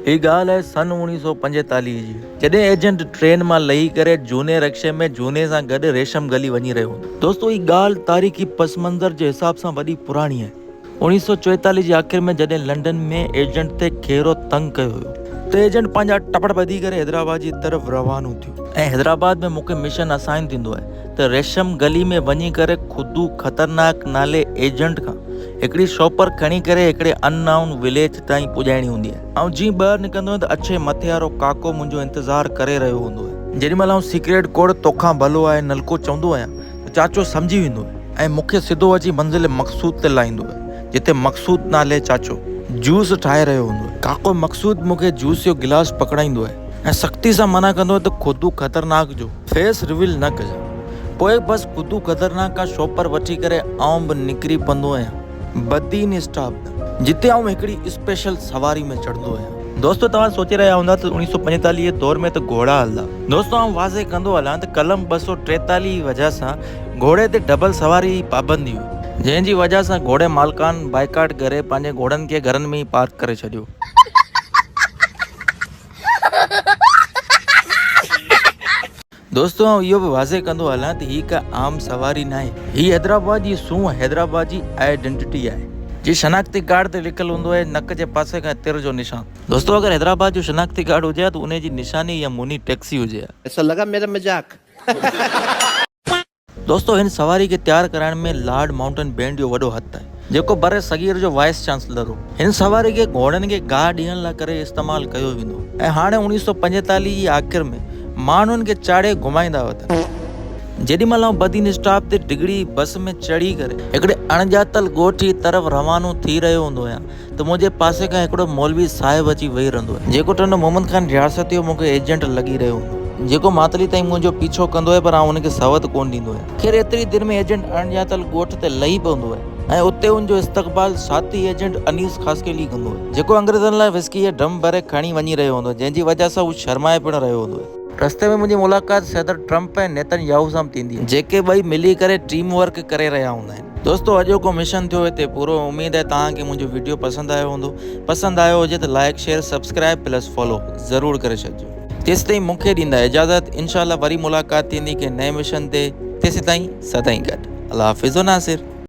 هي ڳالهه آهي سن اوڻيهه سؤ پنجيتاليهه جي، جڏهن ايجنٽ ٽرين مان لهي ڪري جهوني رڪشي ۾ جهوني سان گڏ ريشم گلي وڃي رهيو هوندو. دوستو هي ڳالهه تاريخي پس منظر جي حساب سان وڏي پراڻي آهي. اوڻيهه سؤ چويتاليهه جي آخر ۾ جڏهن لنڊن ۾ ايجنٽ تي کهرو تنگ ڪيو هيو. ته ايجنٽ پنهنجا ٽپڙ ٻڌي ڪري حيدرآباد جي طرف روانو ٿيو. ۽ حيدرآباد ۾ مون کي مشن اسائن ٿيندو آهي ته ريشم گلي ۾ وڃي ڪري خدو خطرناڪ نالي ايجنٽ کان هڪڙي شوپر کڻي ڪري هڪڙي ان نائون وليج تائين پڄائڻي هوندي آهي. آئون جيئن ٻاهر نڪرندو آهيان ته اڇي مٿي وارو ڪاڪو منهنجو انتظار ڪري رهيو هوندو آهي. جيڏي مهل آئون سيڪريٽ ڪوڙ توکان ڀلو آهي نلڪو چوندو آهيان ته چاچو سمجهي ويندو آهي ۽ مون کي سڌو اچي منزل مقصود تي لاهيندو آهي جتي مقصود نالي چاچو جوس ٺاهي رهيو هوندو آهي. ڪاڪو مقصود مون کي جوس جو گلاس پڪڙائيندو آهي ۽ سختي سان منع ڪندو آهي ته خودو خطرناڪ جو فيس ريويل نه ڪجان. پوء بس خودو خطرناڪ کان شوپر وٺي ڪري آئون به نڪري پوندو آهيان. بدين اسٽاپ جتي آئون هڪڙي اسپيشل سواري ۾ چڙهندو آهيان. دوستو توهان سوچي رهيا هوندا ته اوڻيهه سؤ پنجيتاليهه دور ۾ ته گهوڙا هلندا. دوستو آئون واضح ڪندو هلان ته قلم ٻه سؤ ٽيتاليهه جي وجهه سان گهوڙي تي ڊبل سواري جي پابندي هئي. جنهن جي وجهه سان گهوڙي مالڪان بائيڪاٽ ڪري پنهنجي گهوڙن کي گهرن ۾ ئي پارڪ ڪري ڇڏيو. دوستو آئون اهو به واضح ڪندو هلان ته هي ڪا عام سواري ناهي. هي حيدرآباد جي سونهن، حيدرآباد جي آئيڊنٽٽي آهي. جي شناختي ڪارڊ تي لکيل هوندو آهي نڪ جي پاسي کان تر جو نشان. دوستو اگر حيدرآباد جو شناختي ڪارڊ هجي ها ته انهي جي نشاني اها موني ٽيڪسي هجي ها. ايسا لگا ميرا مذاق. دوستو هن سواري کي تيار ڪرائڻ ۾ لارڊ مائونٽن بينڊ جو وڏو هٿ آهي جيڪو بر صغير جو وائيس چانسلر هو. هن سواري کي گهوڙن کي گاهه ڏيڻ لاء ڪري استعمال ڪيو ويندو هو ۽ هاڻي اوڻيهه سؤ پنجيتاليهه جي آخر ۾ ماڻهن کي چاڙهي گهمائيندا هئا ته جيڏي مهل آئون بدين اسٽاپ تي ڊگهڙي بس ۾ چڙهي ڪري هڪڙي اڻڄاتل ڳوٺ جي طرف روانو ٿي رهيو هوندو هيان ته منهنجي پاسي کان هڪڙو مولوي صاحب اچي ويهي رهندو آهي، جيڪو ٽنڊو محمد خان رياستي جو مون کي ايجنٽ لڳي رهيو هوندو آهي، جيڪو ماتلي تائين منهنجو پيڇو ڪندو آهي پر آئون ان کي سوت ڪونه ڏيندو آهيان. خير ايتري دير ۾ ايجنٽ اڻڄاتل ڳوٺ تي لهي پوندو آهي ۽ اتي ان جو استقبال ساٿي ايجنٽ انيس خاصخيلي ڪندو آهي، جيڪو انگريزن لاء وسڪي جا ڊرم ڀري کڻي وڃي رهيو هوندو آهي، جنهن جي وجهه سان هو شرمائي پڻ رهيو هوندو آهي. رستي ۾ منهنجي ملاقات صدر ٽرمپ ۽ نيتن ياهو سان به ٿيندي آهي، جيڪي ٻئي ملي ڪري ٽيم ورڪ ڪري رهيا هوندا آهن. دوستو اڄوڪو مشن ٿيو هتي پورو اميد آهي توهان کي منهنجو ويڊيو پسند آيو هوندو پسند آيو هجي ته like share subscribe plus follow ضرور ڪري ڇڏجو. تيستائين مون کي ڏيندا اجازت انشاء الله وري ملاقات ٿيندي ڪنهن نئين مشن تي تيسين تائين سدائين گڏ الله حافظ و ناصر.